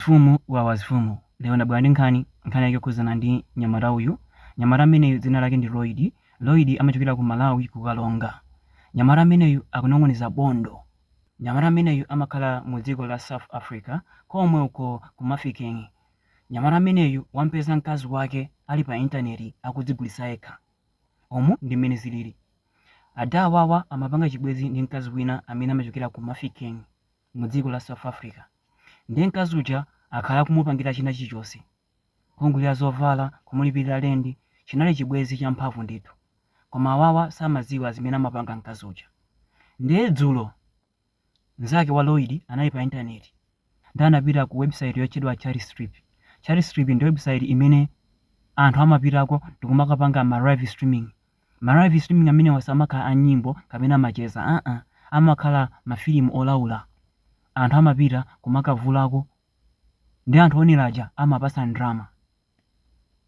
Mfumu wawa Mfumu lero ndabwera ndi nkhani, nkhani yake yokhudzana ndi mnyamata uyu, mnyamata ameneyu dzina lake ndi Lloyd, Lloyd amachokera ku Malawi ku Karonga, mnyamata ameneyu akunong'oneza bondo, mnyamata ameneyu amakhala mu dziko la South Africa komweko ku Mafeking, nyamata ameneyu wampeza mkazi wake ali pa internet akudzigulitsa yekha, umu ndi mmene zilili, ada awawa amapanga chibwenzi ndi mkazi wina amene amachokera ku Mafeking. mu dziko la South Africa ndiye mkazi uja akhala akumupangira china chilichonse kumugulira zovala kumulipirira lendi chinali chibwenzi champhamvu ndithu koma awawa samadziwa zimene amapanga mkazi uja ndiye dzulo mnzake wa Lloyd anali pa intaneti ndi anapita ku website yotchedwa Chat Strip Chat Strip ndi website imene anthu amapitako ndikumakapanga ma live streaming Ma live streaming amenewa si amakhala a nyimbo kapena macheza aa amakhala ma filimu olaula anthu amapita kumakavulako nde anthu oonera aja amawapatsa ndalama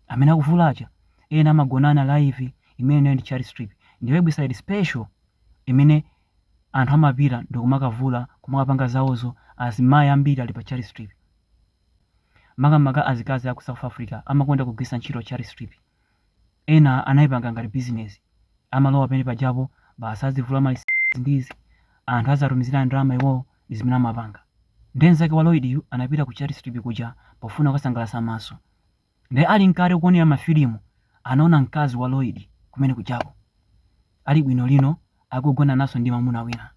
amene akuvula aja ena amagonana live imeneyo ndi chat strip ndi website special imene anthu amapita ndikumakavula kumakapanga zawozo azimayi ambiri ali pa chat strip makamaka azikazi aku south africa amakonda kugwiritsa ntchito chat strip Ena anaipanga ngati bizinezi. Amalowa pamene pajapo, basi adzivula mwaizi ndi izi, anthu aziwatumizira ndalama iwowo, ndi zimene amapanga. Nde mzake wa Lloyd-yu anapita ku Chat Strip kuja pofuna kukasangalatsa maso. Nde ali mkati kuonera ma filimu, anaona mkazi wa Lloyd kumene kujako. Ali bunobuno, akugonananso ndi mamuna wina.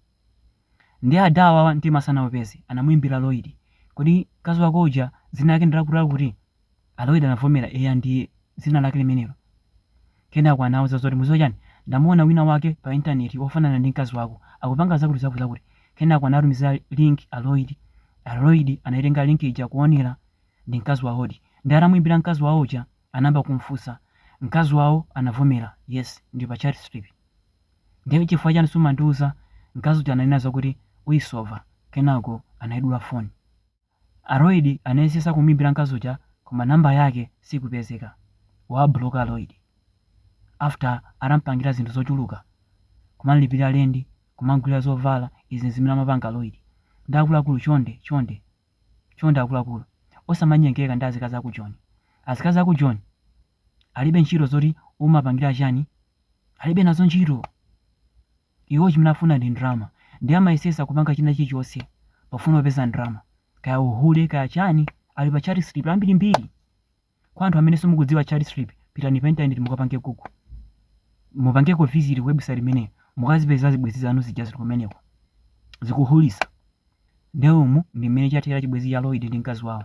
Nde ada awawa mtima sanaupeze, anamuimbira Lloyd, kodi mkazi wako uja dzina lake ndi zakutizakuti? A Lloyd anavomera, Eya, ndi dzina lake limenelo. Kenako anawauza zoti, Mukudziwa chiyani? Ndamuona winawake pa intaneti wofanana ndi mkazi wako, akupanga zakutizakuti-zakuti. Kenako anawatumizira link a Lloyd. A Lloyd anaitenga link ija kuonera, ndi mkazi wawodi. Ndiye atamuimbira mkazi wawo uja, anayamba kumufunsa. Mkazi wawo anavomera, Yes, ndili pa Chat Strip. Ndiye chifukwa chiyani sumandiuza? Mkazi uja ananena zakuti, Uisova. Kenako anaidula foni. A Lloyd anayesesa kumuimbira mkazi uja koma number yake sikupezeka. Wawablocka a Lloyd. After atampangira zinthu zochuluka. Kumamlipilira lendi, kumamgulira zovala, izi nzimene amampangira a Lloyd. Nde akuluakulu chonde, chonde, chonde akuluakulu, osamanyengeka ndi azikazi aku Joni. Azikazi aku Joni alibe ntchito zoti umawapangira chani, alibe nazo ntchito. Iwo chimene afuna ndi ndrama ndiye amayesesa kupanga china chilichonse pofuna kupeza ndrama. Kaya uhule kaya chani ali pa Charity Strip ambiri mbiri. Kwa anthu amene simukudziwa Charity Strip pitani pa internet mukapange google. Mupangeko visit ku website imeneyo mukazipeza zibwezi zanu zija zili kumeneko. Zikuhulisa. Ndiye umu ndi mmene chathera chibwezi cha Lloyd ndi mkazi wawo.